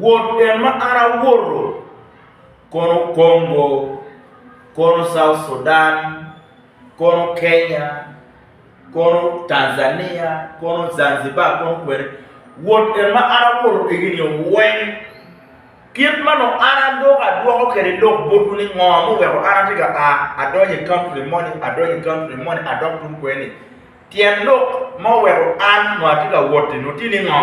Wot en ma an awoto kono Congo, kono South Sudan, kono Kenya, kono Tanzania, kono Zanzibar, kono kwene. Wot en ma an awoto kwigi ni weng. Kit ma nongo an adok adwoko kwede lok botwu ni ngo muweko an atye ka a adonyo i country moni, adonyo i country moni, adok tung kweni. Tyen lok ma oweko an nongo atye ka wot-ti nongo tye ni ngo?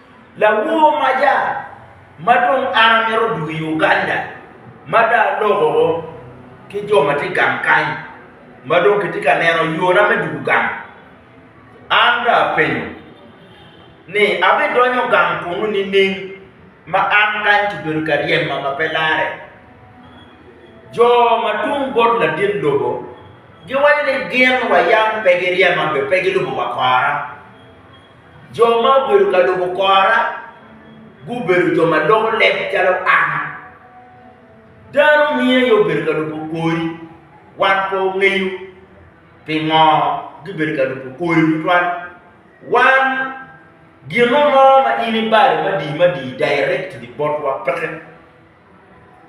Lawor maca ma dong an amito dwogo i Uganda ma dong aloko ki jo ma tye i gang kany ma dong kitye ka neno yona me dwogo gang, an dong apenyo ni abidonyo gang kunu nining ma an kany kibedo ka ryema ma pe larre? Jo ma tung bot ladit lobo giwaco ni gin wa yam pe giryema be pe gilubo wa kora. Jo ma obedo ka lubo kora gubedo jo ma loko leb calo an. Dano niye aye obedo ka lubo kori, wan pe ongeyo pingo gibedo ka lubo kori tutwal. Wan gino mo ma in ibalo madii madii directly botwa peke.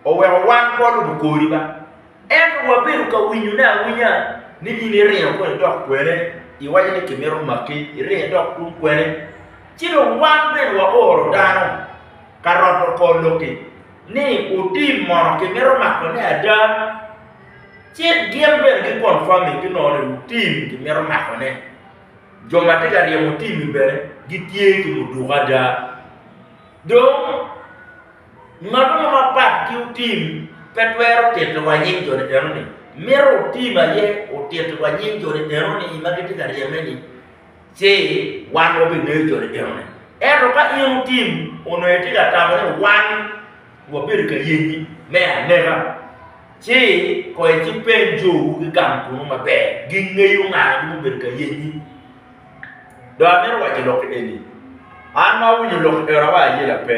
oweko wan pe walubo kori ba, ento wabedo ka winyone awinya ni in iringo kong idok kwene, iwaco ni kimito maki, iringo idok tung kwene. Ci dong wan bene waoro dano ka roto kor lok-ki ni otim mono kimito makone ada. Ci gin bene gi-confirming ki nongo ni otim kimito makone. Jo ma tye ka ryemo tim-mi bene gitye ki muduku ada. Dong. Ngat mo mapat ki otim pe twero tito wa nying jo teteno ni mito otim aye otito wa nying jo teteno ni ma gitye ka ryeme ni ci wan wa bingeyo jo teteno ni. Ento ka in otim onongo itye ka tamo ni wan wa bedo ka yenyi me aneka ci koi ci peny jo wu ki gang kunu maber gingeyo nga ma obedo ka yenyi. Dong amito waco lokki eni, an ma awinyo lok i ora wa aye lape,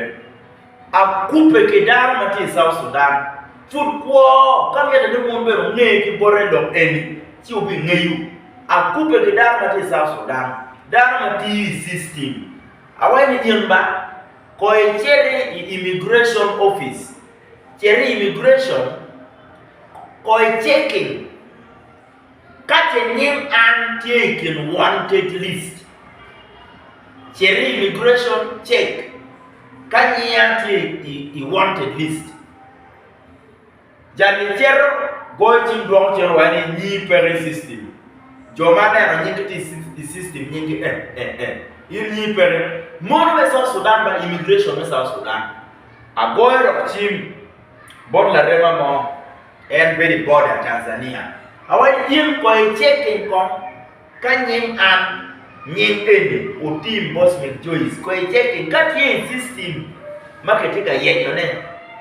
akubbe ki dano ma tye i South Sudan, pud kwo ka mitte ni wun bene wunge ki bote lok eni ci wubingeyo. Akubbe ki dano ma tye i South Sudan, dano ma tiyo i system, awaco ni in ba, koyo icit i immigration office, cit i immigration koyo i checking. Ka ce nying an tye i kin wanted list, ce ni immigration check ka nyinga tye i wanted list, jami cito goyo cim dwoko cen wai ni nyingi peke i system, jo ma aneno nyingi tye i system nyingi en en en, in nyingi peke, mono me South Sudan ba immigration me South Sudan, agoyo dok cim bot larema mo. En bedo i border Tanzania. Awaco in kong i checking kong ka nying an nying eni otim Boswick Joyce kong i checking ka tye i system ma ki tye ka yenyo ne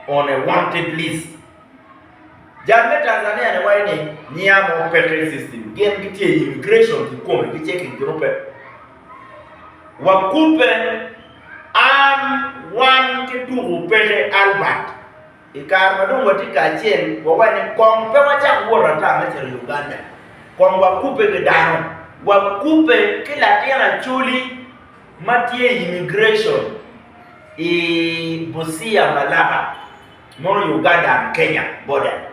on a wanted list. Jal me Tanzania ni waco ni nyiya mo peke i system gin ki tye i immigration ki kome ki checking ki rube. Wa kubbe an wan ki tuku peke Albert. I kare ma dong watye kacel, wawaco ni, 'Kong pe wacak wot ata me cito Uganda. Kong wakubbe ki dano. Wakubbe ki latin Acholi ma tye i immigration i Busia Malaba, mono Uganda and Kenya border.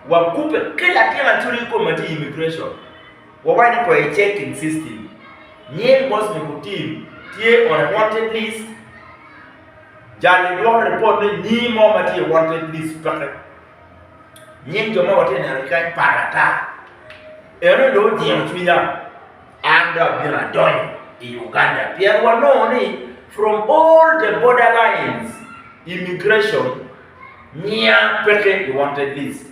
Wakubbe ki latin Acholi kikobo ma tye i immigration. Wawaco ni kong icek in system. Nying boss me ku team tye on a wanted list. Jal-li dwoko ripot ni nyingi mo ma tye i wanted list peke. Nying jo ma watye neno ki kany par ata. Eno dong ojingo cwinya. An dong abino adonyo i Uganda pien wanongo ni from all the border lines immigration nyinga peke i wanted list.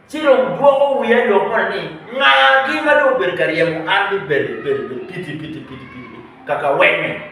Ci dong dwoko wiya lok moni ni ngagi ma dong obedo ka ryemo an ni bele bele bele piti piti piti piti kaka weng-nge.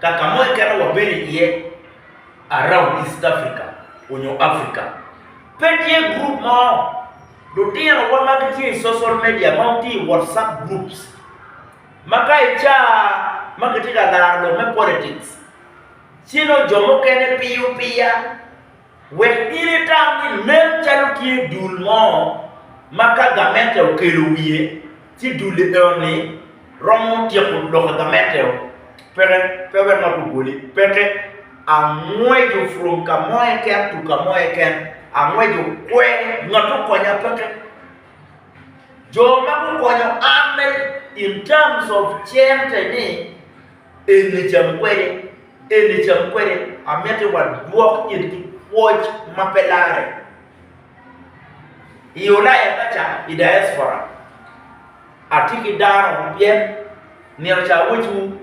ka ka mo keken wabedo iye around East Africa onyo Africa, pe tye group mo lutino wa ma gitye i social media ma gitye i WhatsApp groups ma ka i ca ma kitye ka laro lok me politics ci nongo jo mukene piyo piya Wek in itam ni nen calo tye dul mo ma ka gamente okelo wiye ci dul eno-ni romo tyeko loko gamente-o. Peke, pe wek ngat obwoli. Peke. Angweco from ka mo keken to ka mo keken. Angweco kwe. Ngat okonya peke. Jo ma gukonyo an in terms of cente ni, Eni cam kwede, eni cam kwede. Amiti wadwok it ki pwoc ma pe larre. I Ulaya kaca, i diaspora, atye ki dano pyen nino ca awecciwu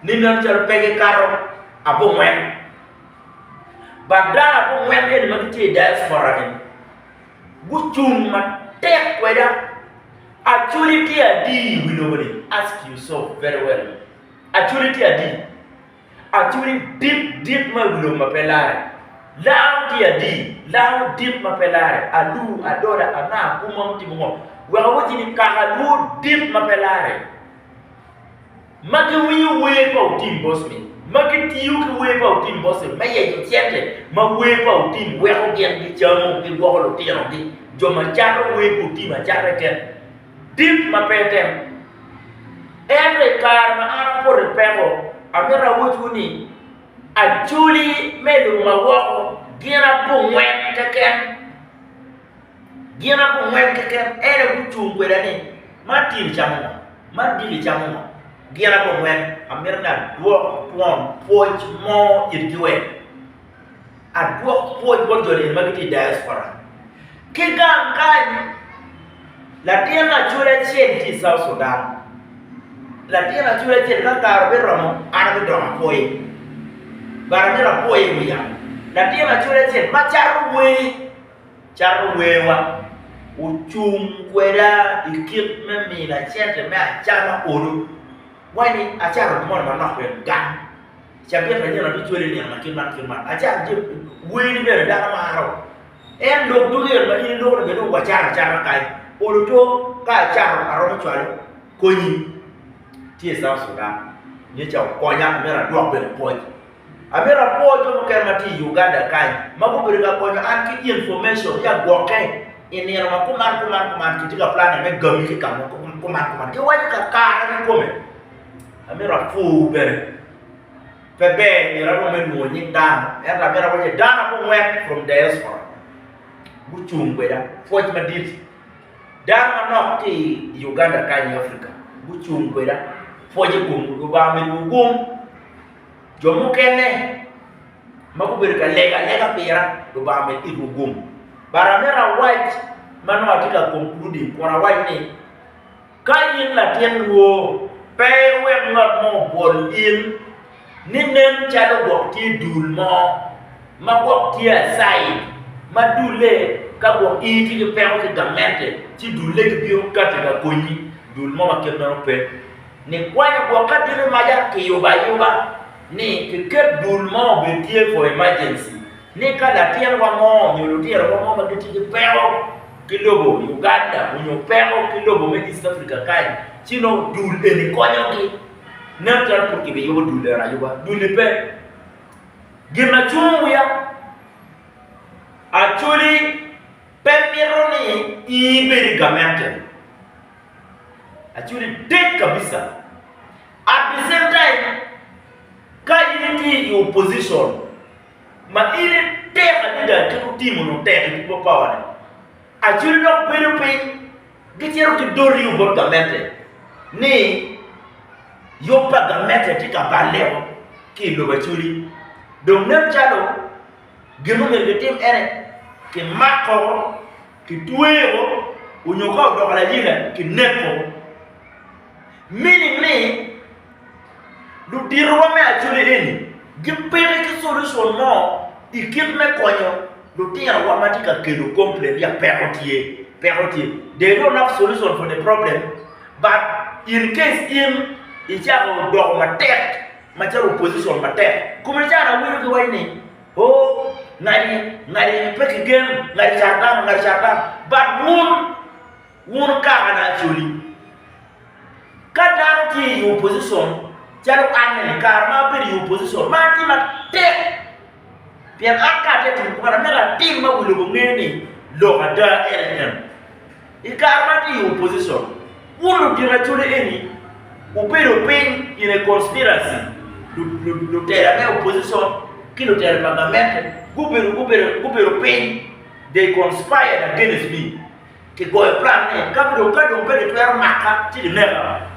ni meno calo pe gikato abongwen. But dano abongwen eni ma gitye i diaspora-ni, gucung matek kweda. Actually tye adi i wi lobo ni? Ask you so very well. Actually tye adi? Actually dit dit ma i wi lobo ma pe lare. Laam tye adi? Laam dit ma pe lare. Alu, adola, anga, kuma mutimo ngo. Wek awacci ni kaka lwur dit ma pe lare. ma giwinyo wer pa Otim Bosme, ma gitiyo ki wer pa Otim Bosme me yenyo cente, ma wer pa Otim weko gin gicamo, gigwoko lutinogi, jo ma cato wer pa Otim acatta i tet dit ma pe etemo. Ento i kare ma an apote peko, amito awacciwu ni, Acholi me lobo ma woko gin abongwen keken. Gin abongwen keken en aye gucung kweda ni, ma tin icamo ngo, ma dil icamo ngo. Gin abongwen amito ni adwok twon pwoc mo itgi wek adwok pwoc bot jo nini ma gitye i diaspora. Ki gang kany latin acoda acel tye i South Sudan, latin acoda acel ka kare obiromo an abidongo apwoye but amito apwoye i wi yamo latin acoda acel ma cato wer. cato werwa, ocung kweda i kit me mina cente me acama olo, wani acato gin moni manok bene gang, cabit anyira abino cwale i nino ma kit man kit man, acato jami weni bene dano maro, en lok ducu eni ma in iloko ni bed dong wacat acata kany, olo two ka acato aromo cwalo konyi tye i south Sudan, nyo ca okonya myero adwok bene pwoc. Amito apwoo jo mukene ma tye i Uganda kany ma gubedo ka konyo an ki information ki agwokke i nino ma kuman kuman kuman kitye ka planne me gami ki ka mo kuman kuman giwaco ka kare kikome. Amito apwoowu bene. Pe ber myero arom me lwongo nying dano ento amito awac ni dano abongwen from diaspora gucung kweda pwoc madit. Dano manok ki i Uganda kany i Africa gucung kweda pwoc i komgi Lubanga omiwu gum. Jo mukene ma gubedo ka lego alega pira, Lubanga omed itwu gum. But aneno awac ma nongo atye ka kong ki luding kun awaco ni, Ka in latin lwor, pe iwek ngat mo obwol in, ni nen calo gwok tye i dul mo, ma gwok tye acayi, ma dulle ka gwok in itye ki peko ki gamente, ci dulle gibino kati ka konyi, dul mo ma kit meno pe. Nikwanyo gwok aditi maca kiyubo ayuba ni kiket dul mo obed tye for emergency ni ka latinwa mo nyo lutirowa mo ma gitye ki peko ki lobo Uganda onyo peko ki lobo me East Africa kany ci nongo dul eni konyogi. Nen calo pud kibiyubo dul eno ayuba. Dul-li pe. Gin ma cungo wiya, Acholi pe mito ni in ibed i gamente. Actually dek kabisa. At the same time, ka in itye i opposition ma in itek adada ki kutimo nyo tek i people power ni, actually dok bedo piny gicito gidori yo bot gamente ni yub pa gamente tye ka balle woko ki i lobo actually. Dong nen calo gin ma omyero kitim ene kimak oko, kitweyo oko nyo ka odoko layila kineko oko. Meaning ni luditowa me Acholi eni gipeki ki solution mo i kit me konyo lutinowa ma tye ka kelo complain ni peko tye, peko tye. They don't have solution for the problem but in case in icako doko matek macalo opposition matek kome i caro awinyo ki waci ni oh ngadi ngadi pe ki gen ngadi car dano ngadi car dano but wun wun kaka na acoli ka dano tye i opposition calo an ni kare ma abedo i opposition ma atye matek pien an ka atye ka timo kwan amito atim ma wi lobo nge ni lok ada en en I kare ma atye i opposition, wun ludito acholi eni wubedo piny in a conspiracy, lutela me opposition ki lutela pa gamente gubedo gubedo gubedo piny they conspired against me, kigoyo plan ni ka dong ka dong pe gitwero maka ci gineka,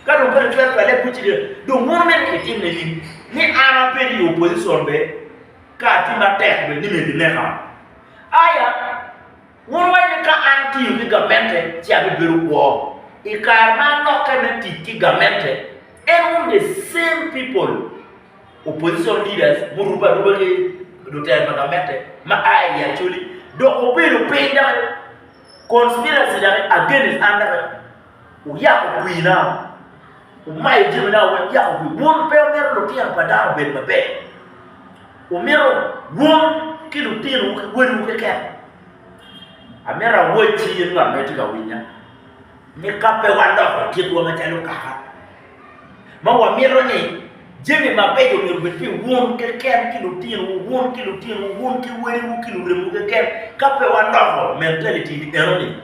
ka dong pe gitwero twale bute ci gineka, dong mono mene ni kitim ne in ni an abed i opposition bene ka atye matek bene ni myero gineka aya. Wun wacci ni, 'Ka an atiyo ki gamente, ci abibedo kwo. I kare ma alokke me tic ki gamente, en wun the same people, opposition leaders murubbe aruba ki lutelo pa gamente ma a i Acholi, dok wubedo piny dok conspiracy dok against an dok. Wuyako kwina, wumayo jamina wek wuyako kwi. Wun pe wumito lutino pa dano obed maber, wumito wun ki lutinowu ki wadiwu keken. Amito awacci in ngat ma itye ka winya, ni ka pe waloko kitwa macalo kaka, ma wamito ni jami mabeco myero obed pi wun keken ki lutinowu, wun ki lutinowu, wun ki wadiwu ki luremuwu keken. Ka pe waloko mentality-ni enoni,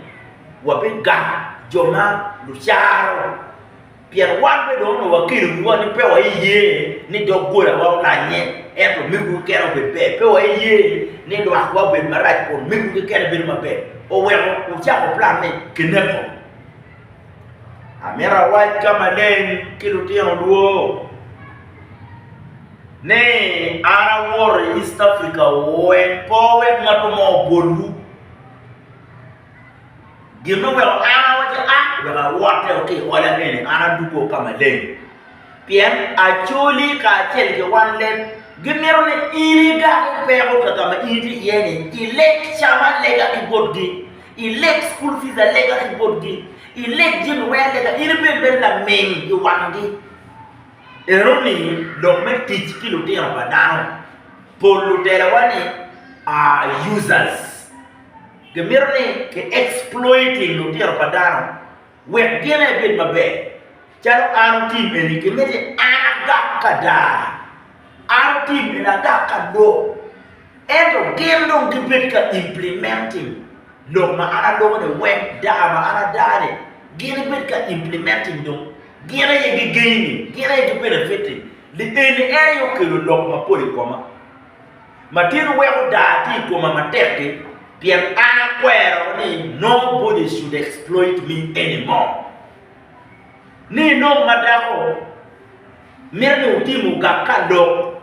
wabigamo jo ma lucaro. Pien wan bene dong onongo wakelo wiwa ni pe waiye ni doggolawa olanye, ento mego keken obed ber. Pe waiye ni lwakwa obed marac kun mego keken bedo maber. Oweko wucako plan ni kineko. Amito awac ka maleng ki lutino dwo ni an awoto i East Africa wek pe wek ngat mo obolwu. Gin ma weko an awaci a wek awotte ki i ola eni an adwogo ka maleng. Pien Acholi kacel ki wan leb gimito ni in igago peko ka ka ma in itye iye-ni, ileg cam alega ki botgi, ileg cukul pic alega ki botgi, ileg jami weng alega, in ibed mere laming i wanggi. En omiyi lok me tic ki lutino pa dano. Pol lutela-wa-ni are users. Gimito ni ki exploiting lutino pa dano. Wek gin ebed maber, calo an otim eni, gimito ni an agak ka dar, an otim eni, agak ka lok. Ento gin dong gibedo ka implementing lok ma an aloko-ni, wek dar ma an adar-ni gin ebed ka implementing dong. Gin aye gigeini, gin aye gibenefit-ti. Lienni en aye okelo lok mapol i koma. Matyen weko daa tye i koma matek-ki, pien an akwero ni nobody should exploit me anymore. Ni inong ma dako mito ni otim ogak ka lok,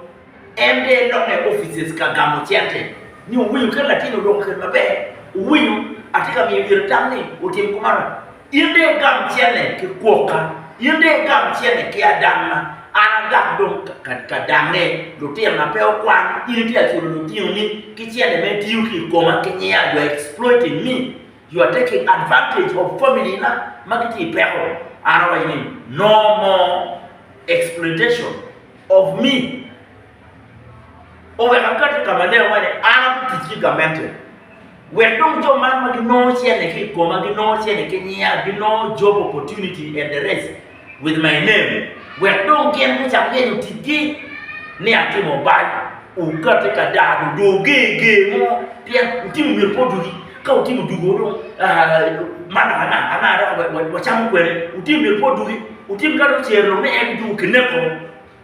en de elonge i offices ka gamo cente, ni owinyo kit latin odoko kede maber, owinyo atye ka miyo ite tam ni otim kumano. In dong igam cene ki kwoka, in dong igam cene ki adanga, an agam dong ka dange. Lutinona pe okwano, in itye ka culo lutinoni ki cene ma itiyo ki i koma ki nyiya, you are exploiting me, you are taking advantage of family na ma gitye i peko. An awaco ni, no more exploitation of me. oweko akati ka ma ne awaco ni an akutic ki gamente, wek dong jo man ma ginongo cente ki i koma, ginongo cente ki nyinga, ginongo job opportunity and the rest with my name, wek dong gin gucak yenyo ticgi ni atimo bal, okati ka dano dong oger ger mo pien otimo myero pe odugi, ka otimo dugo dong man anaka anaka dok wacamo kwede, otimo myero pe odugi, otimo ka dong ocer lok ni en dugo kineko.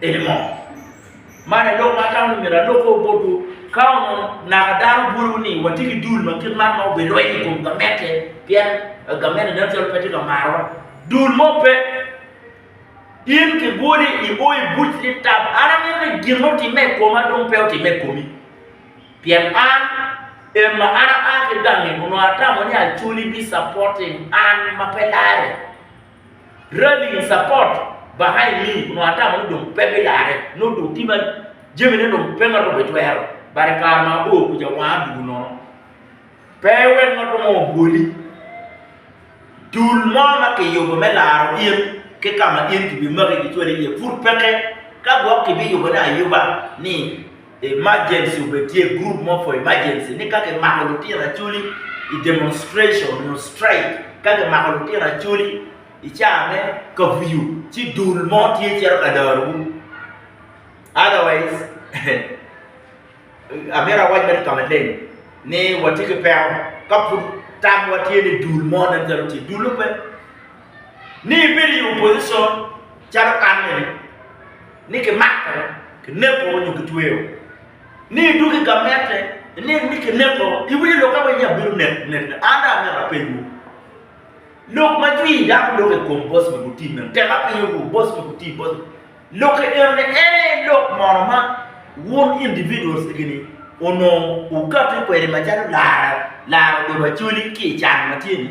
Eni mo, man aye lok ma atamo ni myero alobbe o botwu, ka onongo naka dano bwoyowu ni watye ki dul ma kit man ma obirwenyo i kom gamente pien gamente nen calo pe tye ka marowa. Dul mo pe. In kibwoli i o i buc ni tab. An amito ni gin ma otimme i koma dong pe otimme i komi. Pien an, en ma an aa ki gange onongo atamo ni Acholi bi supporting an ma pe lare. Rallying support Baha'i me onongo ata ma nongo dong pe biyare, nongo dong tye ma jamine dong pe ma romo ecwero bade i kare ma abor kuca wanga dwogo nono. Pe iwek ngat mo obwoli. Dul mo ma kiyubo me laro in ki ka ma in kibimaki kicwali iye pud peke, ka gwok kibiyubone ayuba ni Emergency obed tye group mo for emergency ni ka kimako lutino acholi i demonstration nyo strike ka kimako lutino acholi i caa me kafuyu ci dul mo tye cito ka dorowu otherwise amito awac mere ka maleng ni watye ki peko ka pud tamwa tye ni dul mo nen calo tye dul-le pe. ni ibedo i opposition calo kan mene ni kimako, kineko nyo kitweyo, ni idwogo i gamente ineno ni kineko, iwinyo lok awinya nyo abino neko net ne? An dong amito apenyo wu, lok ma jwi dano loko i kom boss me gutim mene, tek apenyo wu boss me gutim, boss me lok enoni en aye lok mono ma wun individuals egini onongo wukati kwede macalo laro, laro dobo Acholi ki i can ma tye ni?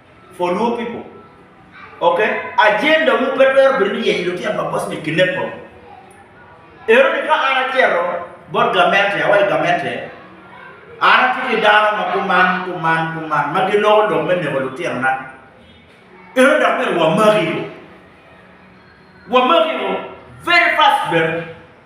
for Luo people ok agenda wu pe twero bedo ni yenyo lutino pa boss me kineko ero ni ka an acito bot gamente awaco gamente an atye ki dano ma kuman kuman kuman ma giloko lok me neko lutino na ero dok myero wamaki wamaki very fast bene.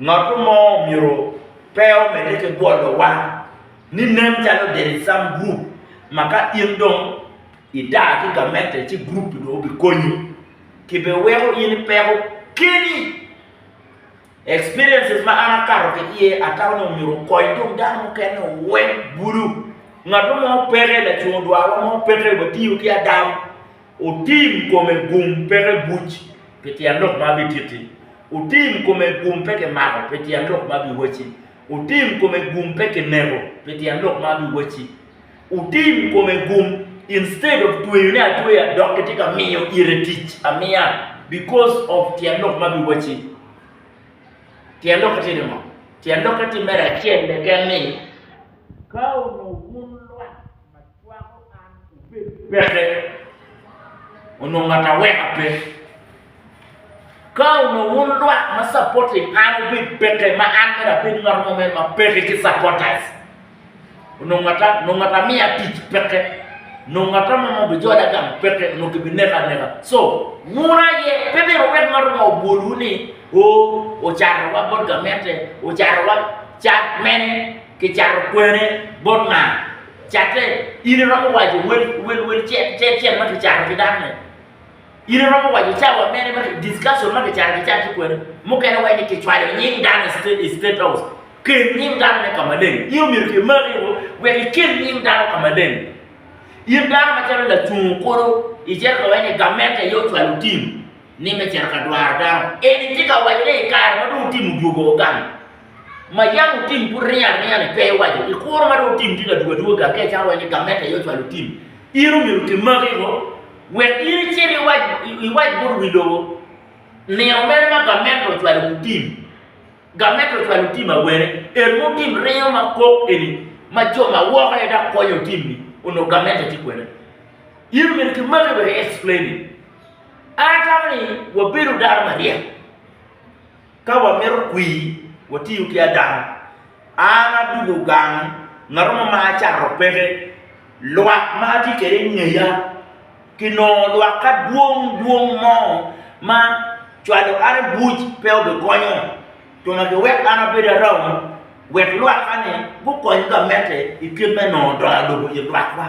Ngat mo myero pe omedde ki gwolo wang ni nen calo del i some group ma ka in dong i daa ki gamente ci group dong obi konyi ki be weko in ipeko keni. Experiences ma an akato ki iye atamo ni myero okony dong dano mukene owek bulu. Ngat mo peke lacungo dwarwa mo peke watiyo ki adam. Otim kome gum peke buc pi tyen lok ma abititti, otim kome gum peke mako pi tyen lok ma abiwacci, otim kome gum peke neko pi tyen lok ma abiwacci, otim kome gum instead of tweyo ne atweya dok kitye ka miyo ite tic amiya because of tyen lok ma abiwacci. Tyen lokke tye ni ngo? Tyen lokke tye mere acel keken ni ka onongo wun lwak Peke. Onongo ngat aweka pe. Ka onongo wun lwak ma supporting an obed peke ma an mere abed ngat mo mere ma peke ki supporters. Onongo ngata, onongo ngata amiya tic peke. Onongo ngata mo ma obijola gang peke, onongo kibineka aneka. So, wun aye pe myero wek ngat mo obwolwu ni, o, ocarowa bot gamente, ocarowa cat mene, kicato kwene bot nga. Catte, in iromo waco wel cel ma kicato ki dano-ni? In iromo waco cawa mene ma discussion ma kicato kicat ki kwene? Mukene waco ni kicwalo nying dano i State House. Kel nying danone ka maleng. In omyero kimaki woko wek ikel nying dano ka maleng. In dano macalo lacung kulu icito ka waco ni gamente aye ocwalo tim ni me cito ka dwaro dano. Eni tye ka waco ni i kare ma dong tim odwogo gang, ma yam otim pud ringo aringa-ni pe iwaco i kuro ma dong otim tye ka dwogo adwoga ka icano wai ni gamente aye ocwalo otim. In omyero otim makiko wek in icit iwac iwac bot wi lobo nino mene ma gamente ocwalo otim. Gamente ocwalo otim awene? En ma otim ringo ma kok eni ma jo ma woko aye dok konyo otim-mi onongo gamente tye kwene. In omyero ki maki wek i explain-ni. An atamo ni wabedo dano maryek Ka wamito kwir, watiyo ki Adam. An adwogo gang, ngat mo ma acato peke, lwak ma atye kwede i ngeya. Kinongo lwak ka dwong dwong mo ma cwalo an i buc pe obikonyo. Twongo kiwek an abed arau wek lwakka-ni gukony gamette i kit me nongo dongo lobo i lwakwa.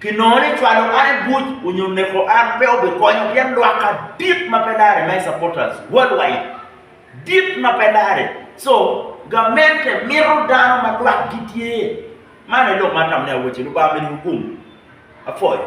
ki nongo ni cwalo an i buc onyo neko an pe obikonyo pien lwak adit ma pe lare my supporters world wide dit ma pe lare so gamente mito dano ma lwak gi tye man aye lok ma atamone awaci lubanga ominiwu gum apwoyo.